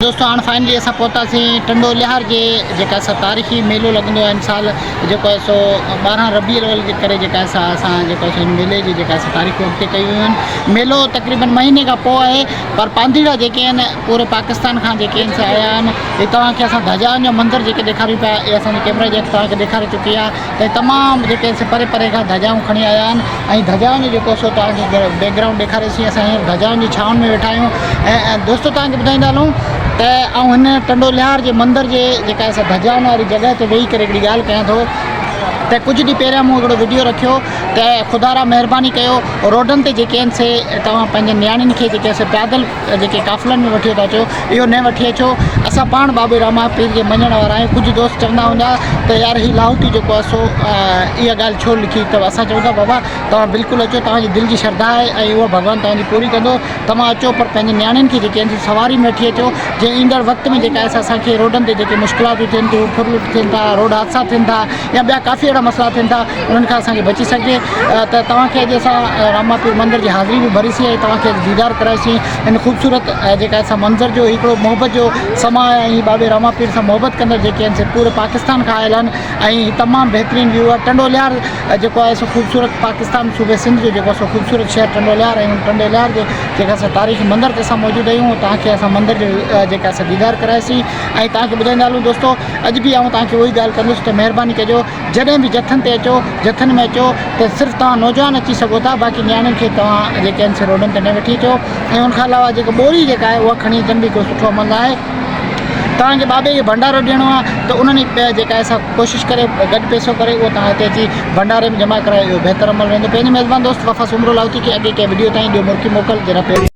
دوستو هاڻ فائنلي اسان پهتاسين ٽنڊو لهار جي جيڪا سا تاريخي ميلو لڳندو آهي ان سال جيڪو آهي سو ٻارهن ربيع الاول جي ڪري جيڪا سا اسان جيڪو سو ان ميلي جي جيڪا سا تاريخون اڳتي ڪيون ويون آهن ميلو تقريبن مهيني کان پوء آهي پر پانڌيئڙا جيڪي آهن پوري پاڪستان کان جيڪي آهن سا آيا آهن هي توهان کي اسان ڌجائن جو منظر جيڪي ڏيکاريون پيا اهي اسان جي ڪيمرا جي اڳ توهان کي ڏيکاري چڪي آهي تي تمام جيڪي سو پري پري کان ڌجائون کڻي آيا آهن ۽ ڌجائن جو جيڪو سو توهان کي بيڪ گرائونڊ ڏيکاري سين اسان هينئر ڌجائن جي ڇانو ۾ ويٺا آهيون ۽ دوستو توهان کي ٻڌائيندا هلون ته آئون هن ٽنڊو لهار جي مندر جي جيڪا اسان ڌجائن واري جڳهه تي ويهي ڪري هڪڙي ڳالهه ڪيان ٿو ته ڪجهه ڏينهن پهريان مون هڪڙو وڊيو رکيو ته خدا را مهرباني ڪيو روڊن تي جيڪي آهن سي توهان پنهنجي نياڻين کي جيڪي سو پيادل جيڪي قافلن ۾ وٺي ٿا چو اهو نه وٺي اچو اسان پاڻ بابي راما پير جي مڃڻ وارا آهيون ڪجهه دوست چوندا هوندا ته يار هي لاهوتي جيڪو آهي سو اها ڳالهه ڇو لکي اٿو اسان چون ٿا بابا توهان بلڪل اچو توهان جي دل جي شرڌا آهي ۽ اها ڀڳوان توهان جي پوري ڪندو توهان اچو پر پنهنجي نياڻين کي جيڪي آهن سواري ۾ وٺي اچو جي ايندڙ وقت ۾ جيڪا آهي سا اسان کي روڊن تي جيڪي مشڪلاتون ٿين ٿيون ڦرلٽ ٿين ٿا روڊ حادثا ٿين ٿا يا ٻيا ڪافي اهڙا مسئلا ٿين ٿا انهن کان اسان کي بچي سگهجي ته توهان کي اڄ اسان راما پير مندر جي حاضري به ڀري سين ۽ توهان کي ديدار ڪرائي سين هن خوبصورت جيڪا اسان منظر جو هڪڙو محبت جو سماء آهي ۽ بابي راما پير سان محبت ڪندڙ جيڪي آهن سي پوري پاڪستان کان آيل آهن ۽ هي تمام بهترين ويو آهي ٽنڊوليار جيڪو آهي سو خوبصورت پاڪستان صوبي سنڌ جو جيڪو سو خوبصورت شهر ٽنڊوليار ۽ ٽنڊوليار جي جيڪا اسان تاريخي مندر تي اسان موجود آهيون ۽ توهان کي اسان مندر جو جيڪا اسان ديدار ڪرائي سين ۽ توهان کي ٻڌائيندا هلون دوستو اڄ به آئون توهان کي اهو ئي ڳالهه ڪندس ته مهرباني ڪجو جڏهن به جٿن تي اچو جٿن ۾ اچو ته صرف توهان نوجوان اچي سگهو ٿا باقي نياڻين کي توهان جيڪي آهن سي روڊن تي نه وٺي اچو ۽ ان کان علاوه جيڪا ٻوري جيڪا آهي اها کڻي اچڻ به هڪڙو سٺو عمل ناهي توهان کي بابي کي ڀنڊارو ڏيڻو آهي ته انهن جي پي جيڪا آهي سا ڪوشش ڪري گڏ پيسو ڪري اهو توهان هتي اچي ڀنڊاري ۾ جمع ڪرايو اهو بهتر عمل رهندو پنهنجي ميزبان دوست وفا سومرو لاهوتي کي اڳي ڪنهن وڊيو تائين ڏيو مرڪي موڪل جناب پهريون